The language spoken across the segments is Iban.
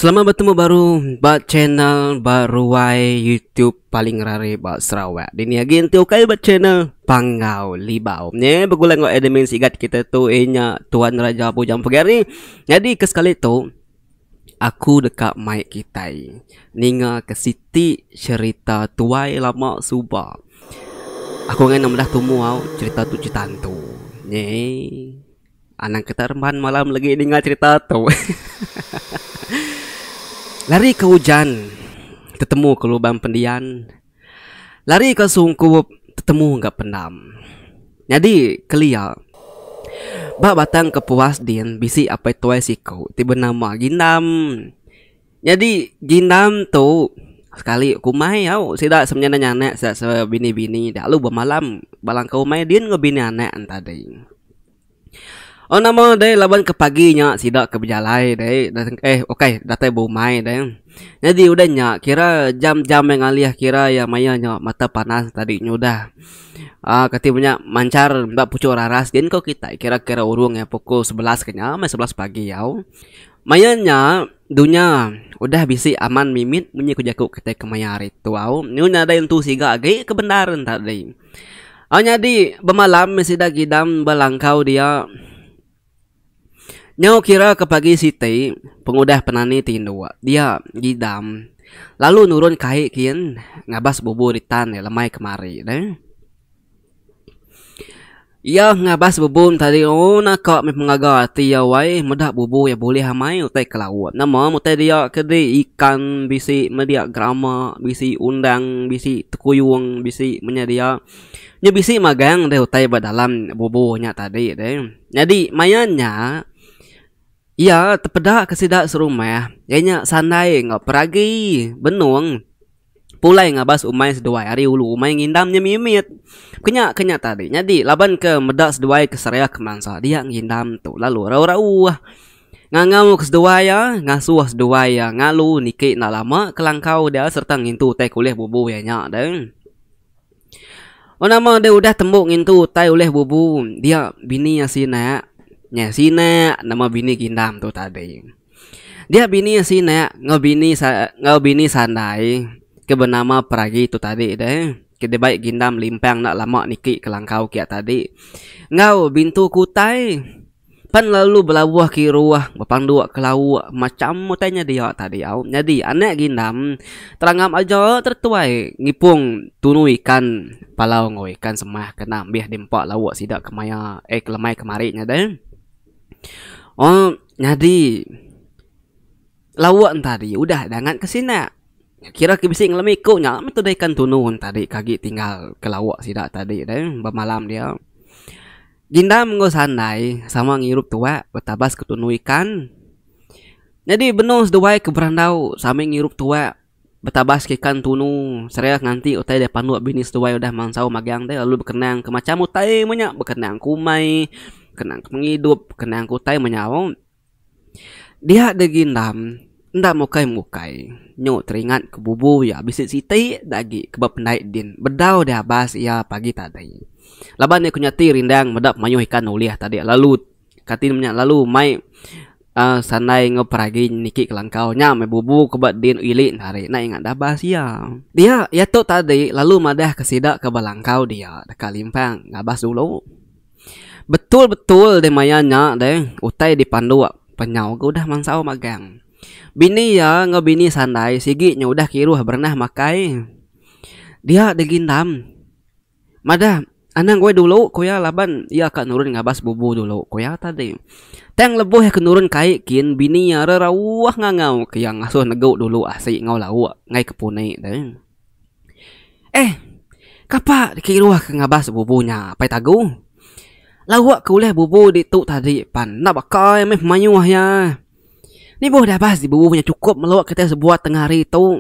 Selamat bertemu baru ba channel ba ruai YouTube paling rare ba Sarawak. Dini agi enti ukai ba channel Panggau Libau. Nye begulai enggau admin sigat kita tu inya Tuan Raja Bujang Pegari. Nyadi ke sekali tu aku deka mai kitai ninga ke siti cherita tuai lama suba. Aku ngai anak meda tumu au cherita tu cherita hantu. Nye. Anang ke tak remban malam lagi ninga cerita tu. Lari ke ujan, tetemu ke lubang pendian. Lari ke sungkup, tetemu ga pendam. Nyadi kelia. Ba batang kepuas din bisi apai tuai siku ti benama Gindam. Nyadi gindam tu sekali ku umai au sida semenyanding anak sida sebini bini dak lalu bemalam balangka umai din enggau bini anak enta dei au nama dei laban ke pagi nya sida ke bejalai dei eh okoi datai be umai dei nyadi udah nya kira jam jam maya ngalih kira iya maya nya mata panas enta di nyudah um kati be nya manchar enda puchuk raras din ko kitai kira kira urung iya pukul sebelas ke nya meh sebelas pagi au. Maya nya, dunya udah bisi aman mimit munyi ku jaku kitai kemaya hari tu au. Nyu nyadai entu siga agi ke bendar nya tadi. Au nyadi bemalam meh sida gidam ba langkau dia. Nyau kira ke pagi siti pengudah penani ti indu dia gidam lalu nurun kai kin ngabas bubu ditan iya lemai kemari deh. Iya ngabas bubung tadi una ka meh pengaga ati iya wai meda bubung iya bulih amai utai ke laut nama utai dia ke di ikan bisi media gerama bisi undang bisi tekuyung bisi menya dia nya bisi magang deh utai ba dalam bubung nya tadi deh nyadi maya nya iya tepeda ke sida serumah iya nya sandai enggau peragi benung. Pulai ngabas umai seduai ari ulu umai ngindam nya mimit. Kenya ke nya tadi nyadi laban ke meda seduai ke seriak mansa dia ngindam tu lalu rau-rau uhh. Ngangau ke seduai iya, ngasuh seduai iya ngalu niki enda lama ke langkau dia sereta ngintu utai ke ulih bubu iya nya deh. Ba nama deh udah tembu ngintu utai ulih bubu dia bini iya sinak. Nya sinak nama bini gindam tu tadi. Dia bini sinak enggau bini enggau bini sandai ke benama Peragi tu tadi deh ke dibai Gindam Limpang enda lama niki Kelangkau kiya tadi enggau Bintu Kutai pan lalu belauh kiruh bepandu ke lauk macham utai nya dia tadi au. Nyadi anak Gindam terangam aja tau tuai ngipung tunu ikan palau enggau ikan semah kena ambih di empa lauk sida ke maya eh ke lemai kemari nya deh. Oh nyadi lauk entari udah dangan ke sina. Kira ke bisi ngelemi ku nya meh tude ikan tunu entari ke agi tinggal ke lauk sida tadi deh bemalam dia. Ginda mengau sandai sama ngirup tuak betabas ke tunu ikan. Nyadi benung seduai ke berandau same ngirup tuak. Betabas ikan tunu sereh nganti utai deh panduk bini seduai udah mansau magang deh lalu bekenang ke macam utai meh nya bekenang ke umai bekenang ke pengidup bekenang ke utai meh nyau dia deh gi endam enda mukai mukai nyu teringat ke bubu iya bisi siti da agi ke ba pendai din bedau deh abas iya pagi tadi laban iya ke nya ti rindang meda mayuh ikan ulih tadi lalu Katin menya lalu mai uh, sandai enggau peragi niki kelangkau nya mai bubu ke ba din ili nari nai ingat dabas iya dia ya tu tadi lalu madah ke sida ke belangkau dia deka limpang ngabas dulu betul-betul deh maya nya deh utai dipandu penyau ke udah mansau magang bini iya enggau bini sandai sigi nya udah kiruh berenah makai dia degindam. Madah, Anang goi dulu, ku iya laban iya ka nurun ngabas bubu dulu, ku iya tadi. Tang lebuh iya ke nurun kai kin bini iya re rauh ngangau ke iya ngasuh negu dulu asi enggau lauk ngai ke puni de. Eh, kapa dikiruh ke ngabas bubu nya Apai Tagu? Lauk ke ulih bubu ditu tadi pan enda baka iya meh mayuh iya. Ni boh dabas di bubu nya chukup melo kitai sebuat tengah hari tu.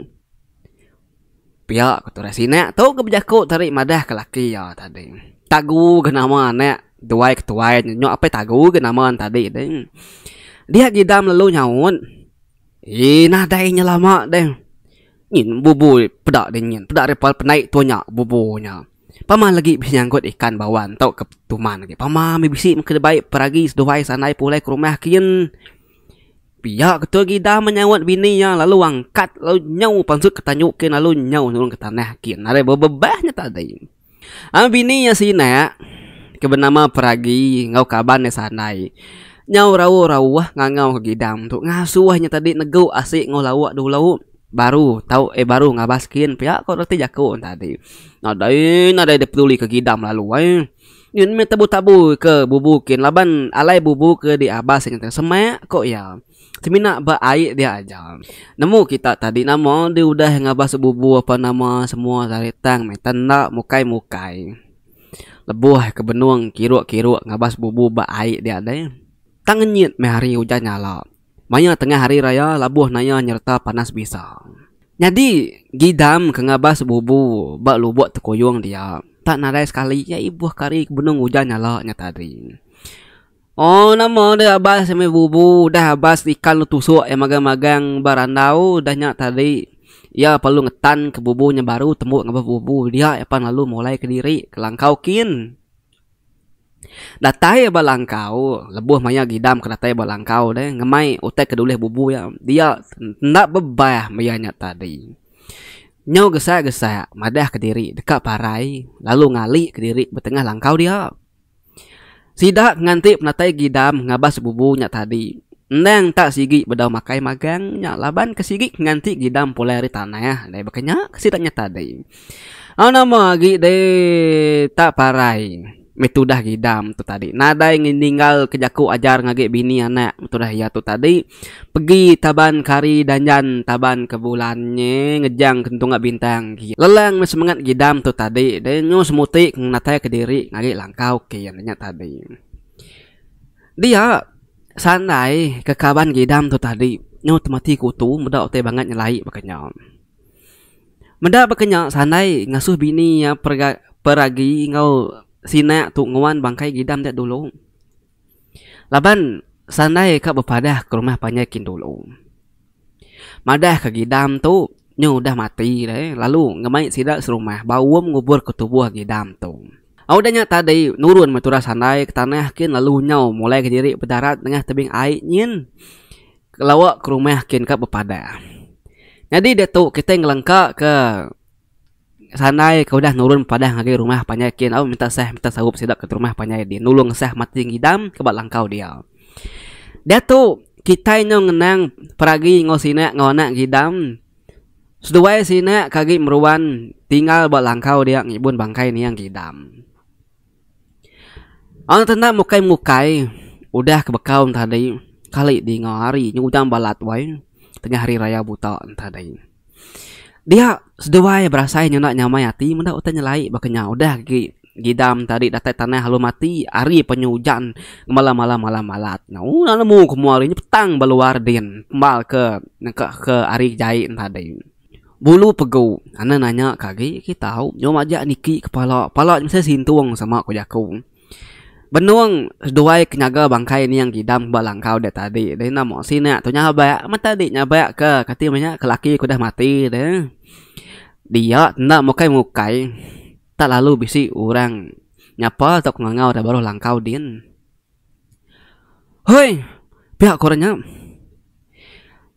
Pia ku turai sinak tu ke bejaku tadi madah ke laki iya tadi. Tagu ga nama anak duai ke tuai nya nyok apai tagu ga nama ne tadi deh. Dia gidam lalu nyaut eii nadai nya lama deh ngin bubu peda deh ngin peda deh pandai tu nya bubu nya. Pama lagi bisi nyanggut ikan bawan tu ke tuman agi pama meh bisi meh ke dibai peragi seduai sandai pulai ke rumah kin. Pia ketul Gida menyaut bini iya lalu angkat lalu nyau pansut ke tanyu kin lalu nyau nurun ke tanah kin ari bebebah nya tadi. Ai bini iya sinak ke benama Peragi enggau kaban iya sandai nyau rauh-rauh ngangau ke Gidam tu ngasuh nya tadi negu asi enggau lauk dulu baru tau eh baru ngabas kin pia ko reti jaku tadi. Nadai nadai dipeduli ke Gidam lalu ai. Nyin meh tabu-tabu ke bubu kin laban alai bubu ke diabas ngan tang semak, ko iya. Semina ba ai dia aja. Nemu kita tadi nama di udah ngabas bubu apa nama semua ari tang meh tan enda mukai-mukai. Lebuh ke benung kiruk-kiruk ngabas bubu ba ai dia deh. Tang nyin meh hari ujan nyala. Maya tengah hari raya labuh naya nyereta panas bisa. Nyadi, Gidam ke ngabas bubu ba lubuk tekuyung dia, tak nadai sekali iya ibuh kari ke benung ujan nyala nya tadi. Oh, nama deh abas meh bubu udah abas ikan lu tusuk iya magang-magang ba randau udah nya tadi. Iya perlu ngetanka bubu nya baru tembu ngabas bubu dia iya pan lalu mulai kediri ke langkau kin. Datai ba langkau lebuh maya gidam ke datai ba langkau deh ngemai utai ke dulih bubu iya. Dia enda bebah meh iya nya tadi. Nyau gesa gesa madah ke diri deka parai lalu ngali ke diri ba tengah langkau dia. Sida nganti penatai gidam ngabas bubu nya tadi endang ta sigi bedau makai magang nya laban ke sigi nganti gidam pulai ari tanah deh baka nya sida nya tadi. Au nama agi deh tak parai meh tudah gidam tu tadi nadai ninggal ke jaku ajar ngagai bini anak tudah iya tu tadi pegi taban ke hari dan jan taban ke bulan nye ngejang ke tunga bintang ke lelang meh semengat gidam tu tadi deh nyu semuti ngenatai kediri ngagai langkau ke iya nya tadi dia sandai ke kaban gidam tu tadi nyu temati ke utu meda utai bangat nyelai baka nya. Meda baka nya sandai ngasuh bini iya peragi enggau sina tu nguan bangkai ngidam dia dulu. Laban sandai ka bepadah ke rumah panjai kin dulu. Madah ka ngidam tu nyu udah mati deh lalu ngemai sida serumah ba uum ngubur ke tubuh ngidam tu. Au udah nya tadi nurun meh turah sandai ke tanah kin lalu nyau mulai kediri bedarat nengah tebing ai nyin. Kelawa ke rumah kin ka bepadah. Nyadi diatu kitai ngelengka ke sandai ke udah nurun padah ngagai rumah panjai kin au minta sah minta saup sida ke rumah panjai di nulung sah mati ngidam ke ba langkau dia. Diatu kitai nyau ngenang peragi enggau sina enggau anak ngidam seduai sina ke agi meruan tinggal ba langkau dia ngibun bangkai nia ngidam. Orang tenda mukai mukai udah ke bekau enti hari kali dinga hari nya ujan balat wai tengah hari raya buta enti hari dia seduai berasai nyenda nyamai ati meda utai nyelai ba Kenyah tadi udah agi ngidam tadi datai tanah lalu mati ari panyu ujan ngemala malam malam balat nya ooh lalu nemu ke mua hari nya petang ba luar din mba ke nengka ke hari jai enti hari. Bulu pegu ane nanya ke agi agi tau nyom aja niki kepala pala mesti sintung sama ku jaku benung seduai ke nyaga bangkai ning gidam ba langkau dek tadi deh ina mok sik nya tu nyabak amat tadi nyabak ke kati manya ke laki ku dah mati de dia enda mukai mukai tak lalu bisi orang nyapa tau ke ngangau deh baruh langkau din. Hoi! Pia ku orang nya.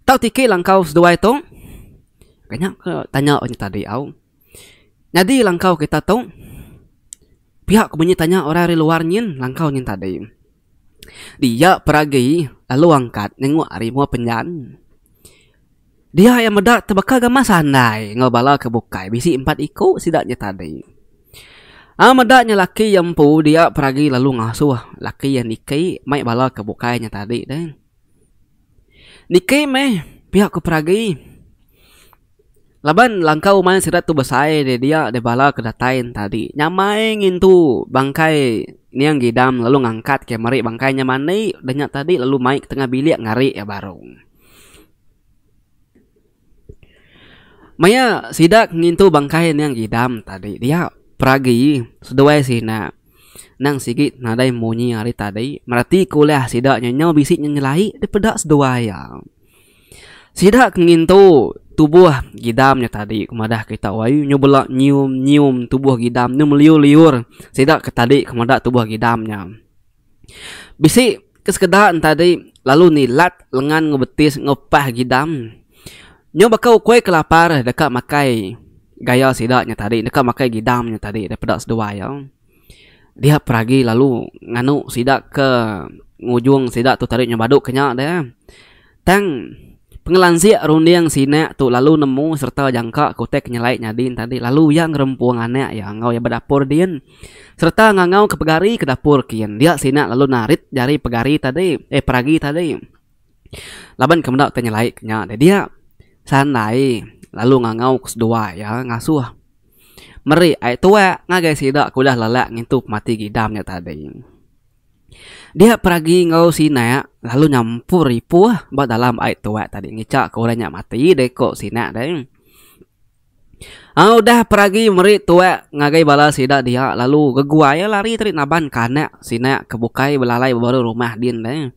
Tau tiki langkau seduai tu? Ka nya ke tanya orang nya tadi au. Nyadi langkau kita tu? Pia ku munyi tanya orang ari luar nyin langkau nyin tadi. Dia peragi lalu angkat nengok ari mua penyan. Dia iya meda tebaka gamal sandai enggau bala ke bukai bisi empat iku sida nya tadi. Au meda nya laki iya empu dia peragi lalu ngasuh laki iya niki mai bala ke bukai nya tadi deh. Niki meh pia ku peragi laban langkau uman sida tu besai deh dia deh bala ke datai nya tadi nyamai ngintu bangkai niang Gidam lalu ngangkat iya meri bangkai nya mani udah nya tadi lalu mai ke tengah bilik ngari iya baru. Maya sida ngintu bangkai niang Idam tadi dia peragi seduai sina nang sigi nadai munyi ari tadi mereti ku ulah sida nyenyau bisi nya nyelai deh peda seduai iya. Sida ke ngintu tubuh Idam nya tadi ku madah kita uai nyu bela nyium nyium tubuh Idam nyu meliur liur sida ke tadi ke meda tubuh Idam nya. Bisi ke sekeda enta di lalu nilat lengan enggau betis enggau pah gidam nyau baka ukoi ke lapar deka makai gaya sida nya tadi deka makai gidam nya tadi daripada seduai iya. Dia pun agi lalu nganu sida ke ngujung sida tu tadi nyau badu ke nya deh. Tang, pengelansik runding sida tu lalu nemu sereta jangka kutip ke nyelai nyadin tadi lalu iya ngerempung anak iya enggau iya bedapur din sereta ngangauka pegari ke dapur kin dia sida lalu narit jari pegari tadi eh peragi tadi laban ke meda ti nyelai ke nya deh dia sandai lalu ngangau ke seduai iya ngasuh meri ai tuak ngagai sida ke udah lelak ngintu pemati gidam nya tadi. Dia peragi enggau sinak lalu nyampur ipuh ba dalam ai tuak tadi ngicha ke orang nya mati deh ko sinak deh. Au udah peragi meri tuak ngagai bala sida dia lalu beguai ia lari tadi naban kanak sinak ke bukai belalai ba baruh rumah din deh.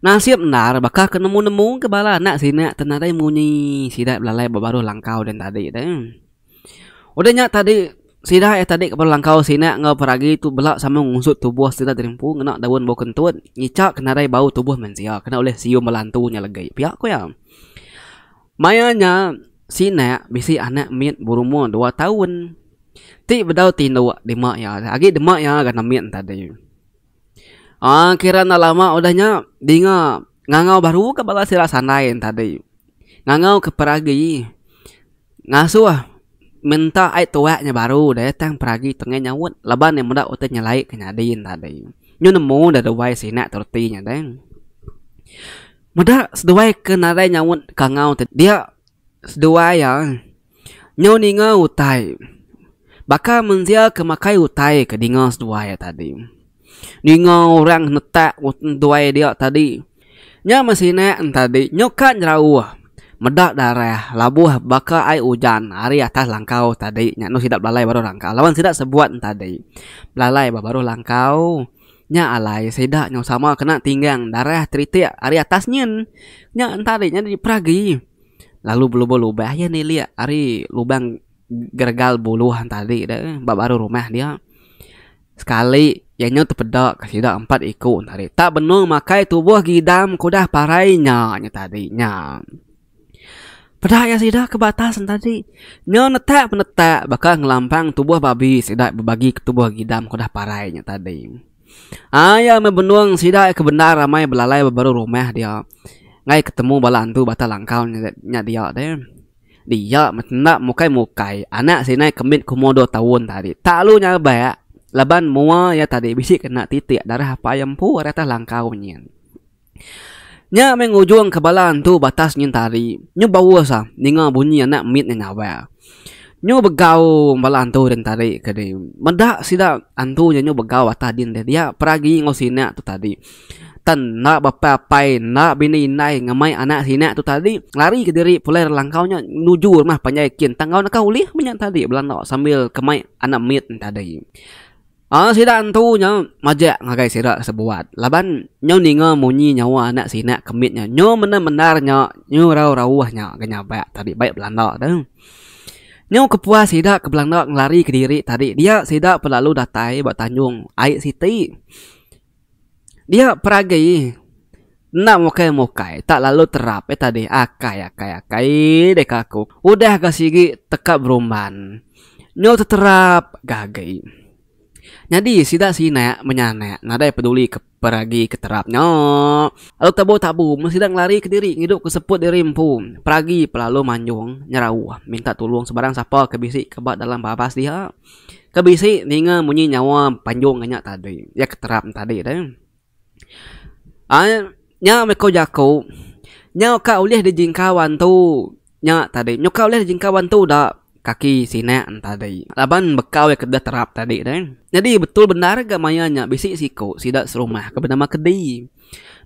Nasib endar baka ke nemu nemu ke bala anak sinak tu nadai munyi sida belalai ba baruh langkau din tadi deh. Udah nya tadi sida iya tadi ke belangkau sina enggau peragi tu bela sama ngusut tubuh sida ti empu ngena daun bau kentut ngicha ke nadai bau tubuh mensia kena ulih sium bala antu nya legi pia ku iya. Maya nya sina bisi anak mit berumur dua taun ti bedau tinduk dema iya agi dema iya ngagai anak mit tadi. Aa kira enda lama udah nya dinga ngangau baru ka bala sida sandai ne tadi. Ngangau ke peragi ngasuh minta ai tuak nya baru deh tang peragi tengah nyaut laban ne meda utai nyelai ke nyadi ne tadi. Nyu nemu deh duai sina tu reti nya deh. Meda seduai ke nadai nyaut kangau dia seduai iya. Nyau ninga utai. Baka mensia ke makai utai ke dinga seduai iya tadi. Ninga orang netak seduai dia tadi. Nya meh sinak ne tadi nyuka nyerauh meda darah labuh baka ai ujan ari atas langkau tadi nya enda sida belalai baruh langkau laban sida sebuat ne tadi belalai ba baruh langkau nya alai sida nyau sama kena tinggang darah teritik ari atas nyin. Nya tadi nya dipera agi. Lalu belubur lubah iya nilik ari lubang geregal buluh tadi tu ba baruh rumah dia. Sekali iya nyau tepeda ke sida empat iku tadi. Tak benung makai tubuh gidam ke udah parai nya nya tadi nya. Peda iya sida ke ba atas tadi. Nyau netak penetak baka ngelampang tubuh babi sida bebagi ke tubuh gidam ke udah parai nya tadi. Iya meh benung sida ke bendar ramai belalai beberu rumah dia ngai ketemu bala antu bata langkau nya dia te. Dia meh enda mukai mukai anak sida nai kemit ke umur dua taun tadi tak lalu nyabak laban mua iya tadi bisi kena titik darah apai empu ari atas langkau nyin. Nya meh ngujungka bala antu batas nyentari nyu baus ah ninga bunyi anak mit nya nyawa. Nyu begau bala antu ri Entari ke di meda sida antu nya nyu begau atas din deh dia peragi enggau sina tu tadi. Tan enda bapa apai enda bini indai ngemai anak sina tu tadi lari kediri pulai ari langkau nya nuju rumah panjai kin tang enggau naka ulih menya tadi belanda sambil ke mai anak mit nya tadi. Anak sida entu nya majak ngagai sida sebuat laban nyu ninga munyi nyawa anak sina ke mit nya nyu mendar-mendar nya nyu rauh-rauh nya ga nyabak tadi bai belanda tu. Nyu kepuas sida ke belanda ngelari kediri tadi dia sida pelalu datai ba tanjung ai siti. Dia peragi enda mukai-mukai tak lalu terap ai tadi akai akai akai deka aku udah ga sigi teka berumban nyau teterap ga agi nyadi sida sina menyanak nadai peduli ke peragi ke terap nya lalu tabu tabu mun sida ngelari kediri ngidup ke seput diri empu peragi pe lalu manjung nyerau minta tulung sebarang sapa ke bisi ke ba dalam babas dia. Ke bisi ninga munyi nyawa panjung nya tadi iya ke terang tadi tu ai nya meh ko jaku nyau ka ulih dijingkau antu nya tadi nyau ka ulih dijingkau antu dak kaki sine tadi laban bekau iya ke deh terap tadi deh nyadi betul bendar ga maya nya bisi siko sida serumah ke benama kedi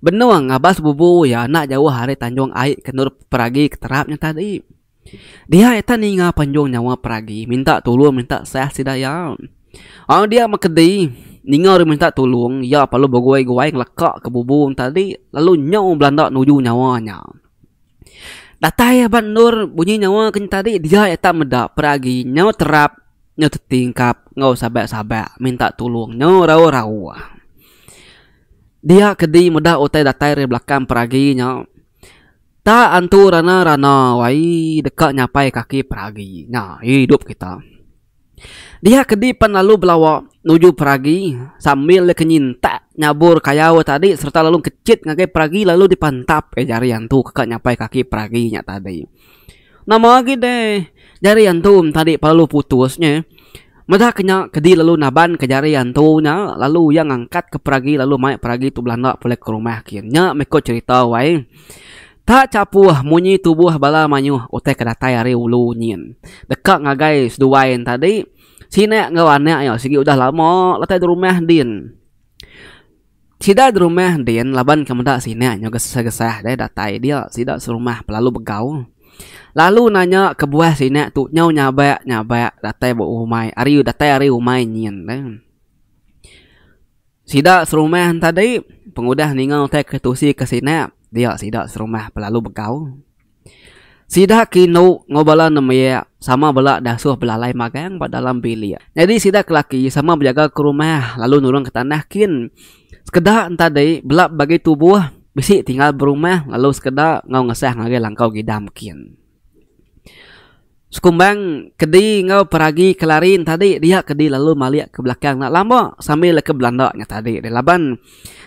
benung ngabas bubu iya enda jauh ari tanjung ai ke endur peragi ke terap nya tadi. Dihai ita ninga panjung nyawa peragi minta tulung minta sah sida iya. Au dia mekedi ninga orang minta tulung iya parlu beguai-guai ngeleka ke bubu tadi lalu nyau belanda nuju nyawa nya. Datai ba endur bunyi nyawa ke tadi dia ita meda peragi nyau terap nyau tetingkap enggau saban-saban minta tulung nyau rauh-rauh. Dia kedi meda utai datai ari belakang peragi nya. Ta antu rana rana wai deka nyapai kaki peragi nya idup kita. Dia kedi pan lalu belawa nuju peragi sambil deka nyintak nyabur kayau iya tadi sereta lalu kechit ngagai peragi lalu dipantap jari antu ke nyapai kaki peragi nya tadi. Nama agi deh jari antu tadi perlu putus nye meda ke nya kedi lalu naban ke jari antu nya lalu iya ngangkat ke peragi lalu mai peragi tu belanda pulai ke rumah kin nya meh ko cerita wai tak chapuh munyi tubuh bala mayuh utai ke datai ari ulu nyin deka ngagai seduai yen tadi sine enggau anak iya sigi udah lama datai rumah din. Sida gerumah din laban ke meda sina nyau gesah-gesah deh datai dia. Sida serumah pe lalu begau. Lalu nanya kebuah sina tu nyau nyabak-nyabak datai ba rumai ari datai ari rumai nyin deh. Sida serumah tadi pengudah ninga utai ke tusi ke sina dia sida serumah pe lalu begau. Sida ke indu enggau bala nembiak sama bela diasuh belalai magang ba dalam bilik. Nyadi sida ke laki sama bejaga ke rumah lalu nulung ke tanah kin. Sekeda entadi bela bagi tubuh bisi tinggal berumah lalu sekeda enggau ngesah ngagai langkau gidam kin. Sekumbang kedi enggau peragi kelari entadi dia ke dilalu malik ke belakang enda lama sambil leka belanda nya tadi deh laban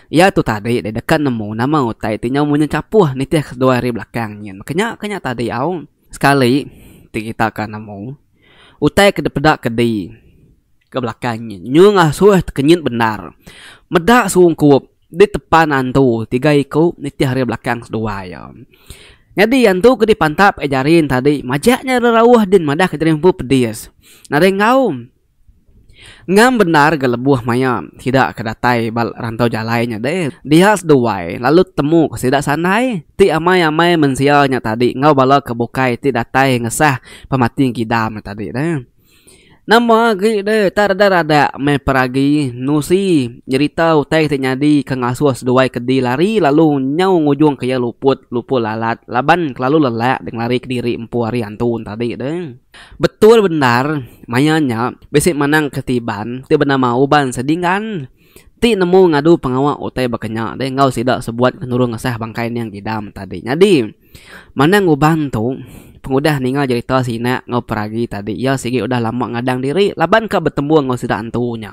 iya tu tadi deh deka nemu nama utai ti nyau munyi chapuh nitih keseduai ari belakang nyin maka nya ke nya tadi au sekali ti kita ka nemu utai ke dipeda kedi ke belakang nyin nyu ngasuh tekenyit bendar meda sungkup. Di tepan antu tiga iku nitih ari belakang seduai iya. Nyadi antu ke dipantap ai Jarin tadi majak nya rerauh din madah ka Jarin empu pedis. Nadai enggau. Ngam bendar ga lebuh maya sida ke datai ba rantau jalai nya deh. Dia seduai lalu temu ka sida sandai ti amai-amai mensia nya tadi enggau bala ke bukai ti datai ngesah pemati ngidam nya tadi deh. Nama agi deh tak redak-redak meh peragi nusi nyerita utai ti nyadi ke ngasuh seduai kedi lari lalu nyau ngujung ke iya luput luput lalat laban kelalu lelak deh ngelari kediri empu hari antu tadi deh. Betul bendar maya nya bisi manang ketiban ti benama Uban Sedingan. ti nemu ngadu pengawa utai baka nya deh enggau sida sebuat ke nulung ngesah bangkai Neng Gidam tadi. Nyadi, manang uban tu, pengudah ninga jerita sina enggau peragi tadi, iya sigi udah lama ngadang diri laban ka betemu enggau sida antu nya.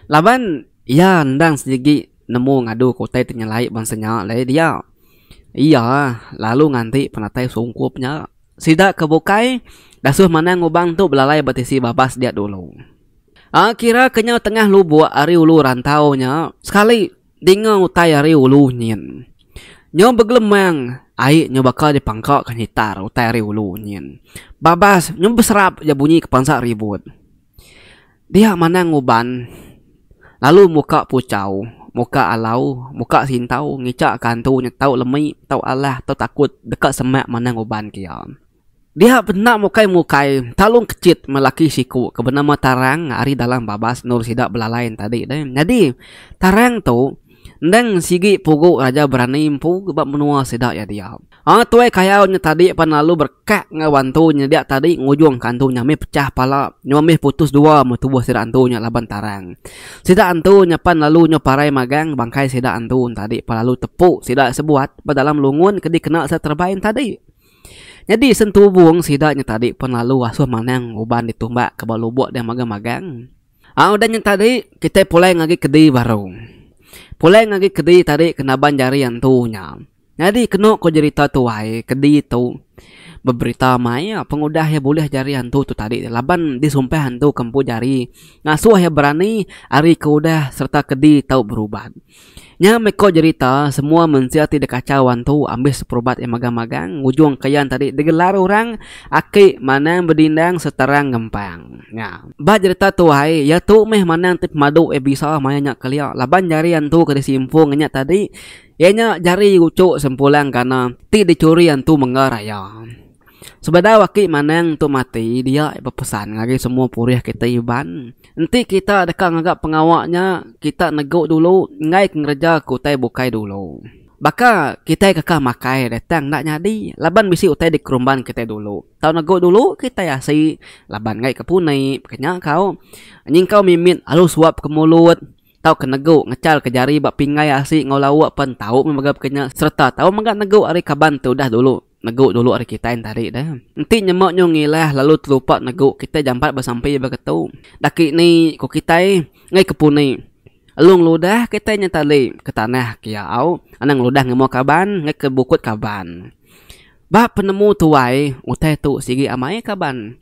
Laban iya endang sigi nemu ngadu ke utai ti nyelai bansa nya alai dia, iya lalu nganti penatai sungkup nya. Sida ke bukai dasuh manang uban tu belalai ba tisi babas dia dulu. A kira kenyau tengah lubuk ari ulu rantau nya sekali dinga utai ari ulu nyin. Nyau begelemang ai nyau baka dipangka ka nyitar utai ari ulu nyin. Babas nyau beserap ja bunyi ke pansa ribut. Dia manang uban lalu muka puchau, muka alau, muka sintau ngichak ka antu nya tau lemi, tau alah, tau takut deka semak manang uban ke iya. Dia benda mukai-mukai talung kechit melaki siku ke benama Tarang ari dalam babas endur sida belalai tadi deh. Nyadi Tarang tu endang sigi pugu Raja Berani empu ba menua sida iya dia. Aa tuai kayau nya tadi pan lalu berekak enggau antu nya dia tadi ngujung ka antu nya mih pecah pala nyau mih putus dua meh tubuh sida antu nya laban Tarang. Sida antu nya pan lalu nyau parai magang bangkai sida antu nya tadi pan lalu tepu sida sebuat ba dalam lungun ke dikena sida terebai nya tadi. Nyadi sentubung sida nya tadi pen lalu asuh manang uban ditumbak ke ba lubok deh magang magang. Aa udah nya tadi kitai pulai ngagi kedi baru. Pulai ngagi kedi tadi ke naban jari antu nya. Nyadi kenu ko jerita tuai kedi tu beberita mai iya pengudah iya bulih jari antu tu tadi laban disumpah antu ke empu jari ngasuh iya berani ari ke udah serta kedi tau berubat. Nya meh ko jerita semua mensia ti dikachau wan tu ambis perubat iya magang-magang ngujung ke yan tadi digelar orang aki manang bedindang seterang ngempang. Nya ba jerita tu ai iya tu meh manang ti pemadu iya bisa maya nya kelia laban jari antu ke disimpung nya tadi iya nya jari uchu sempulang gana ti dicuri antu mengga raya. Sebedau aki manang tu mati dia iya bepesan ngagai semua purih kita Iban enti kita deka ngaga pengawa nya kita negu dulu enggai ke ngereja ke utai bukai dulu baka kitai keka makai deh tang enda nyadi laban bisi utai dikerumban kitai dulu tau negu dulu kitai asi laban enggai ke puni ke nya kau nyingkau mimit alu suap ke mulut tau ke negu ngecal ke jari ba pinggai asi enggau lauk pen tau mega ke nya sereta tau mega negu ari kaban te udah dulu. Negu dulu ari kitai entari da. Enti nyema nyu ngilah lalu telupa negu kitai jampat besampi ba ketu. Daki ni ku kitai ngai ke puni. Elu ngeludah kitai nya tali ke tanah kia au anang ngeludah ngemau kaban ngai ke bukut kaban. Ba penemu tuai utai tu sigi amai kaban.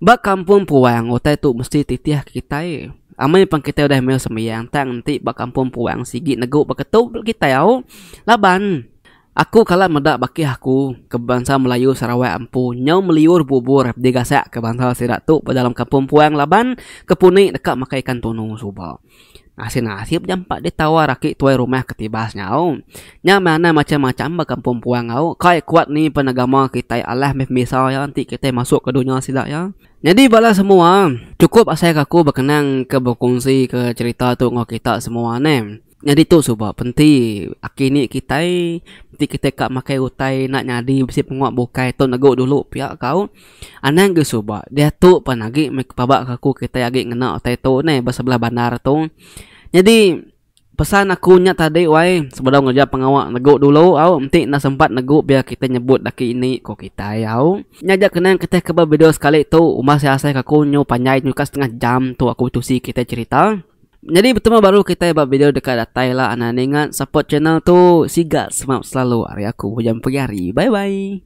Ba kampung puang utai tu mesti titih ke kitai. Amai pen kitai udah meh sembiang tang enti ba kampung puang sigi negu ba ketu kitai au laban. Aku kala meda bakih aku ke bebansa Melayu Sarawak empu nyau meliur bubur digasak ke bansa sida tu ba dalam kampung puang laban ke puni deka makai ikan tunu suba. Asin nasib jampat ditawar aki tuai rumah ke tibas nyau. Nya meh anang macam macam ba kampung puang au kai kuat ni pen agama kitai alah meh pemisa iya enti kitai masuk ke dunya sida iya. Nyadi bala semua, chukup asai ka aku bekenang ke bekunsi ke cherita tu enggau kita semua neh. Nyadi tu suba penti aki ni kitai enti kitai ka makai utai enda nyadi bisi pengua bukai tu negu dulu pia kau anang gi suba diatu pan agi meh paba ke aku kitai agi ngena utai tu neh ba sebelah bandar tu nyadi pesan aku nya tadi wai sebedau ngereja pengawa negu dulu au enti enda sempat negu biar kitai nyebut aki ini ku kitai au nya ja kenang kitai ke ba video sekali tu umbah asai asai ke aku nyu panjai nyu ka setengah jam tu aku tusi kitai cerita. Nyadi betemu baru kitai ba video deka datai la anak ninga support channel tu siga semap selalu ari aku Hujan Pegari bye bye.